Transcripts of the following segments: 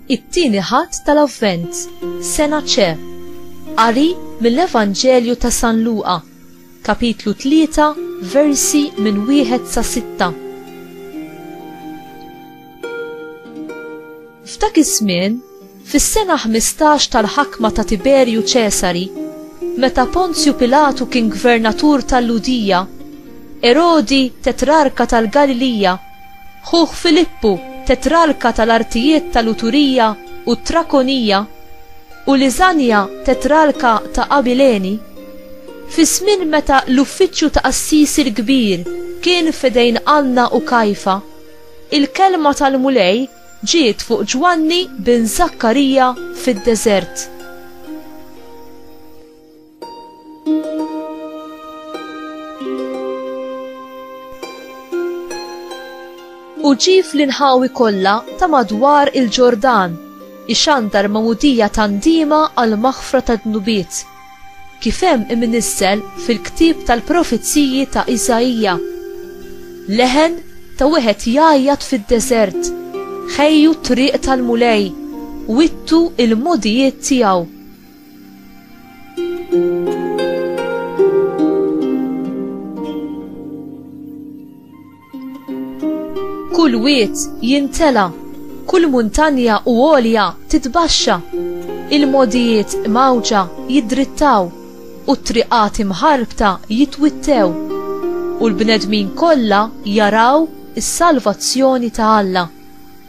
It-tieni ħadd tal-Avvent, sena ċe, qari mill-Evanġelju ta' San Luqa, kapitlu 3, versi minn wieħed sa' sitta. F'dak iż-żmien Fis-sena ħmistax tal-ħakma ta' Tiberju Ċesari, meta Ponzju Pilatu kien gvernatur tal-Lhudija, Erodi, tetrarka tal-Galilija, ħuh Filippu, tetrarka tal-artijiet tal-Uturija u t-Trakonija, u Liżanja, tetrarka ta' Abilene, fi żmien meta l-uffiċċju ta' qassisi l-kbir kien f'idejn Anna u Kajfa, il-kelma tal-Mulej Ġiet fuq Ġwanni bin Żakkarija fid-deżert. U ġie fl-inħawi kollha ta' madwar il-Ġordan, ixandar magħmudija ta' ndiema għall-maħfra tad-dnubiet. kif hemm imnissel fil-ktieb tal-profeziji ta' Isaija, leħen ta' wieħed jgħajjat fid-deżert, Ħejju t-triq tal-Mulej, wittu l-mogħdijiet tiegħu. Kull wied jintela, kull muntanja u għolja titbaxxa, il-mogħdijiet mgħawġa jiddrittaw, u t-triqat imħarbta jitwittew, u l-bnedmin kollha jaraw is-salvazzjoni ta' Alla.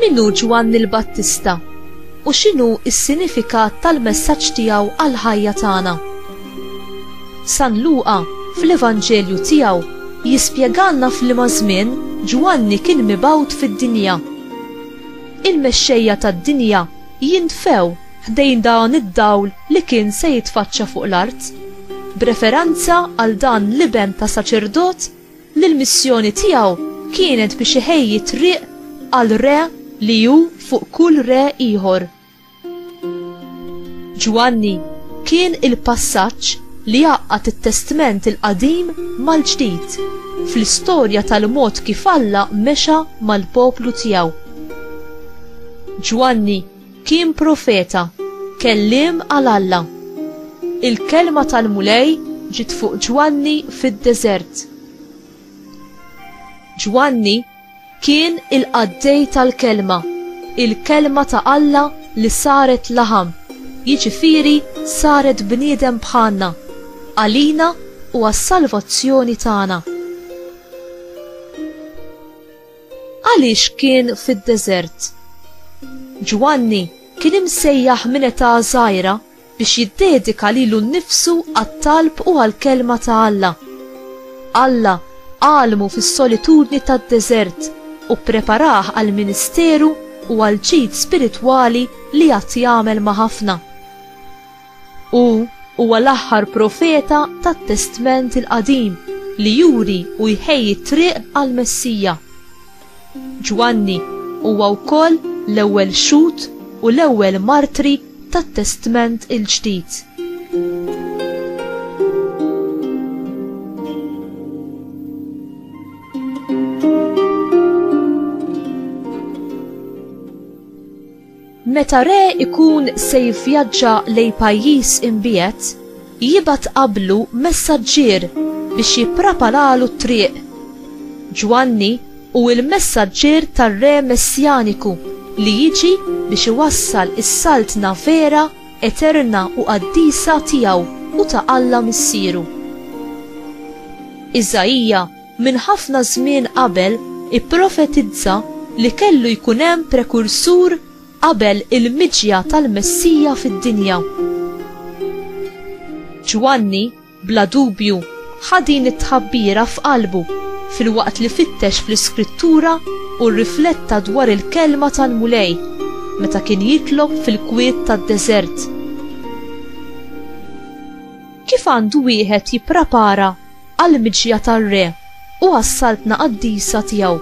Min hu Ġwanni l-Battista, u x'inhu s-sinifikat tal-messaġġ tiegħu għall-ħajja tagħna? San Luqa, fl-Evanġelju tiegħu, jispjegalna f'liema żmien Ġwanni kien mibgħut fid-dinja. Il-mexxejja tad-dinja jintfew ħdejn dan id-dawl li kien se jitfaċċa fuq l-art, b'referenza għal dan l-iben ta' saċerdot li l-missjoni tiegħu kienet biex iħejji t-triq għal Re li hu fuq kull Re ieħor. Ġwanni kien il-passaġġ li għaqqad it-Testment il-Qadim mal-Ġdid fl-istorja tal-mod kif Alla mexa mal-poplu tiegħu. Ġwanni Kien profeta, kelliem għal Alla. Il-kelma tal-Mulej ġiet fuq Ġwanni fid-deżert. Ġwanni kien il-qaddej tal-kelma, il-kelma ta' Alla li saret laħam, jiġifieri saret bniedem bħalna, għalina u għas-salvazzjoni tagħna. Għaliex kien fid-deżert? Ġwanni kien imsejjaħ minn età żgħira biex jiddedika lilu nnifsu għat-talb u għall-kelma ta' Alla. Alla għallmu fis-solitudni tad-deżert u ppreparah għall-ministeru u għall-ġid spiritwali li għad jagħmel ma' ħafna. Hu huwa l-aħħar profeta tat-Testment il-Qadim li juri u jħejji t-triq għall-Messija. Ġwanni huwa wkoll l-ewwel xhud u l-ewwel martri tat-Testment il-Ġdid. Meta re jkun se jivvjaġġa lejn pajjiż imbiegħed, jibgħat qablu messaġġier biex jippraparalu t-triq. Ġwanni hu l-messaġġier tar-Re Messjaniku li jiġi biex iwassal is-Saltna vera, eterna u qaddisa tiegħu u ta' Alla Missieru. Iżaija minn ħafna żmien qabel ipprofetizza li kellu jkun hemm prekursur qabel il-miġja tal-Messija fid-dinja. Ġwanni, bla dubju, ħa din it-tħabbira f'qalbu filwaqt li fittex fl-Iskrittura u rrifletta dwar il-kelma tal-Mulej meta kien jitlob fil-kwiet tad-deżert. Kif għandu wieħed jipprapara għall-miġja tar-Re u għas-Saltna Qaddisa tiegħu.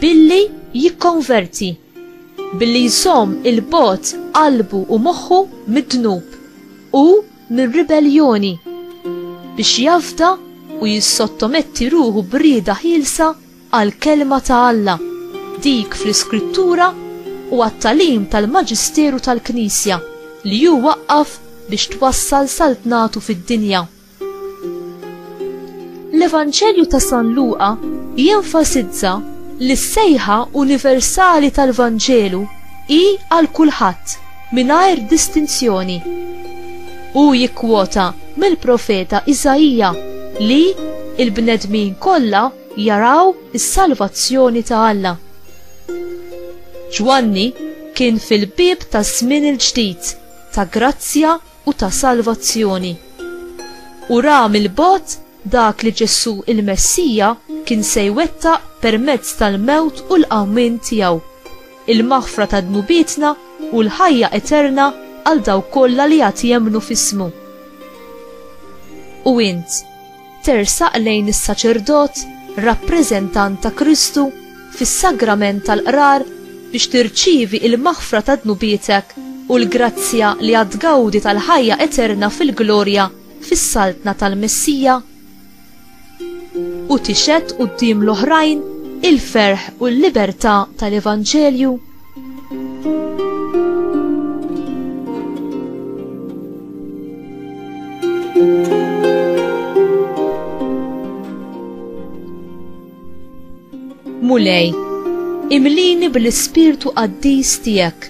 Billi jikkonverti, billi jżomm 'il bogħod qalbu u moħħu mid-dnub u mir-ribelljoni, biex jafda u jissottometti ruħu b'rieda ħielsa għall-Kelma ta' Alla, dik fl-Iskrittura u għat-tagħlim tal-Maġisteru tal-Knisja li hu waqqaf biex twassal Saltnatu fid-dinja. L-Evanġelju ta' San Luqa jenfasizza li s-sejħa universali tal-Vanġelu hi għal kulħadd mingħajr distinzjoni. Hu jikkwota mill-profeta Iżaija li l-bnedmin kollha, jaraw is-salvazzjoni ta' Alla. Ġwanni kien fil-bieb taż-żmien il-ġdid ta' grazzja u ta' salvazzjoni. U ra mill-bogħod dak li Ġesù il-Messija kien se jwettaq permezz tal-mewt u l-qawmien tiegħu, il-maħfra ta' dnubietna u l-ħajja eterna għal dawk kollha li għad jemmnu f'ismu. U int? Tersaq lejn is-saċerdot, rappreżentant ta' Kristu, fis-sagrament tal-qrar biex tirċievi il-maħfra ta' dnubietek u l-grazzja li għad tgawdi tal-ħajja eterna fil-glorja fis-Saltna tal-Messija, u tixhed quddiem l-oħrajn il-ferħ u l-libertà tal-Evanġelju. Mulej, imlini bil-ispirtu qaddis tiegħek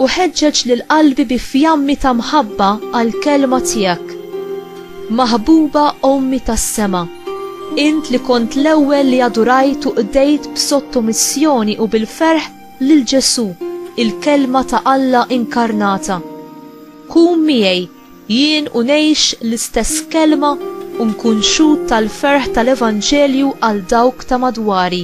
u ħeġġeġ lil qalbi bi fjammi ta' mħabba għall-kelma tiegħek. Maħbuba Ommi tas-Sema, int li kont l-ewwel li adurajt u qdejt b'sottomissjoni u bil-ferħ lil Ġesù, il-Kelma ta' Alla inkarnata, kun miegħi jien u ngħix l-istess kelma u nkun xhud tal-ferħ tal-Evanġelju għal dawk ta' madwari.